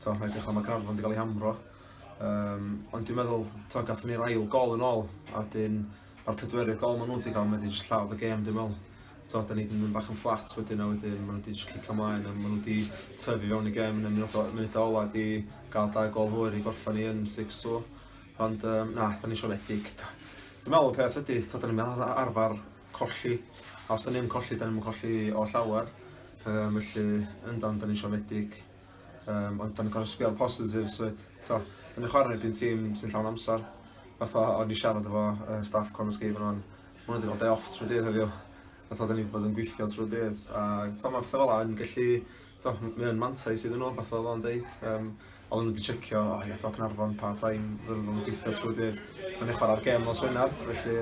T'o, mae'n edrych fel mae Gaernarfon 'di cael ei hamro. Yym, ond dwi'n meddwl, t'o, gathon ni'r ail gol yn ôl, a wedyn ma'r pedwerydd gol maen nhw 'di cael, mae wedi jyst lladd y gêm dwi'n meddwl. T'o, 'dan ni 'di mynd bach yn fflat wedyn, a wedyn maen nhw wedi jyst cicio mlaen, a maen nhw wedi tyfu fewn i gêm yn y munud o- munud ola 'di gael dau gol hwyr i gorffan ni yn six two. Ond um, na, 'dan ni siomedig. Dwi'n meddwl y peth ydy, t'o, 'dan ni'n ar- arfer colli, a os 'dan ni'n colli, 'dan ni'n colli o llawer. Um, felly, yndan, 'dan ni'n siomedig. Um, ond dan ni'n gorau sbio'r positif, so to, dan ni'n chwarae erbyn tîm sy'n llawn amser. Fatha, o'n i siarad efo uh, staff Corn Escape yna'n, maen nhw wedi cael day off trwy dydd heddiw. A to, dan ni wedi bod yn gweithio trwy dydd. A to, mae pethau fel yna yn gallu, to, mae'n mantais iddyn nhw, fatha oedd o'n deud. Um, oedd nhw wedi checio, o oh, ie, to, Cynarfon, pa time, fydden nhw'n gweithio trwy dydd. Mae'n eich chwarae'r gem os Wener, felly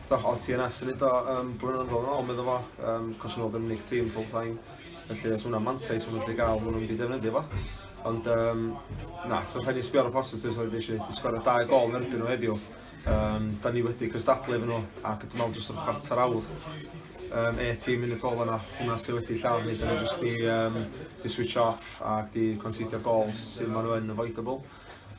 to, oedd TNS yn ei do um, blynyddoedd yn ôl, meddwl fo, um, cos nhw oedd yn unig tîm full time. Felly os hwnna'n mantais maen nhw'n gallu gael, maen nhw'n mynd i defnyddio fo. Ond um, na, so rhaid ni sbio ar y positives oedd eisiau di sgorio dau gol yn erbyn nhw heddiw. Um, da ni wedi cystadlu efo nhw ac dwi'n meddwl jyst o'r chwarter awr um, 18 munud ôl yna, hwnna sydd wedi llaw ni, da ni jyst di, um, di switch off ac di considio gols sydd maen nhw yn avoidable.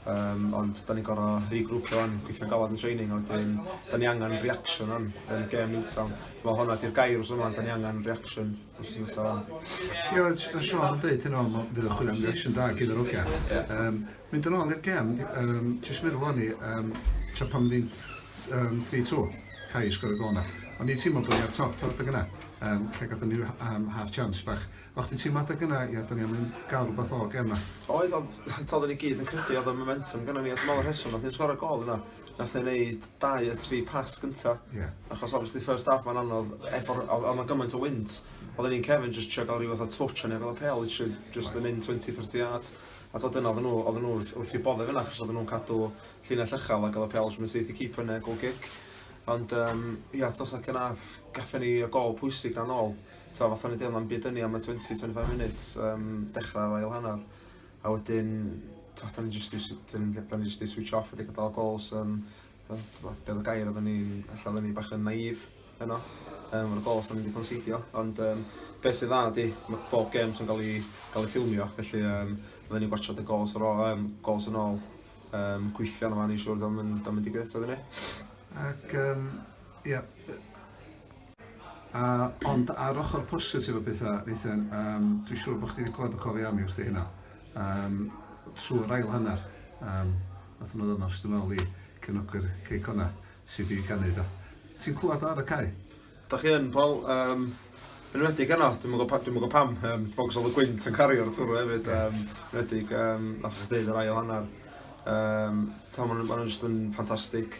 Um, ond da ni'n gorau regrwpio o'n gweithio galad yn training, ond wedyn da ni angen reaction o'n yn gem Newtown. Mae hwnna di'r gair os yma, da ni angen reaction os ti'n nesaf o'n. Ie, oedd Sian Sean yn dweud hyn o'n fydd yn chwilio am reaction da gyda Rogia. Yeah. Um, mynd yn ôl i'r gem, um, jyst meddwl o'n i, um, tra pan ddim um, 3-2, cael i sgwrdd y gol yna. O'n i'n teimlo bod ni ar top o'r dyg yna, um, lle gatho ni um, half chance bach. O'ch ti'n teimlo adeg yna, ia, 'da ni am gael rhywbeth o'r gêm 'ma? Oedd, ond eto oedden ni gyd yn credu oedd y momentum gynnon ni a dwi'n meddwl y rheswm nath ni sgoro gol yna, nath e wneud dau y tri pas gynta'. Ie. Achos obviously first half mae'n anodd efo'r oedd oedd 'na gymaint o wynt oedden ni'n cefn jyst trio gael rhyw fath o twtsh o'n i gael y pêl literally jyst yn mynd 20, 30 yards a tibod dyna oedden nhw oedden nhw wrth wrth i'w bodde fyna achos oedden nhw'n cadw llinell uchel a gael y pêl jyst mynd syth i keeper neu goal kick ond yym ia tibod second half gathen ni y gol pwysig 'na nôl Tibod, fatha o'n i'n deud, o'na'm byd yn ni am y 20, 25 minutes um, dechrau ar ail hanner. A wedyn, tibod, da ni jyst i, da ni jyst i switch off wedi gadael gols. Um, beth o gair, oedden ni, allan oedden ni bach yn naif yno, um, o'r gols da ni wedi conseidio. Ond um, beth sydd dda ydy, mae bob gem sy'n cael ei, cael ei ffilmio, felly um, oedden ni gwachod y gols, ar ôl, um, gols yn ôl, um, gweithio yna fan i siwr, da mynd i gwneud eto, dyn ni. Ac, um, ia, A, ond ar ochr positif o bethau, Nathan, um, dwi'n siŵr bod chdi wedi clywed y cofiau am i wrthi hynna. Um, trwy'r ail hanner, um, nath nhw ddod yn ôl i cefnogwyr Cei Connah sydd wedi canu da. Ti'n clywed ar y cae? Da chi yn, Paul. Um, yn wedig yno, dwi'n mwyn gwybod dwi pam, um, bogs oedd y gwynt yn cario'r twrw hefyd, um, yn wedig, um, nath chi ddeud yr ail hanner. Um, ta, maen nhw'n ma just yn ffantastig.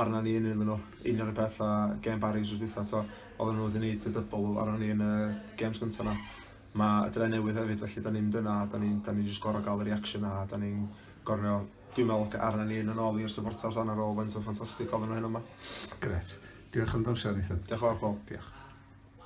arnon ni yn iddyn nhw. Un o'r peth a gem Barry wrth dwytha to, oedden nhw wedi gwneud y dybl arnon ni yn y gems gyntaf na. Mae y dre newydd hefyd, felly da ni'n mynd yna, da ni'n ni just gorau gael y reaction a da ni'n gorau dwi'n meddwl ac arna ni yn yn ôl i'r supporters dan ar ôl faint o'n ffantastig oedden nhw hyn yma. Gret. Diolch am dy amser, Nathan. Diolch yn fawr, Paul. Diolch.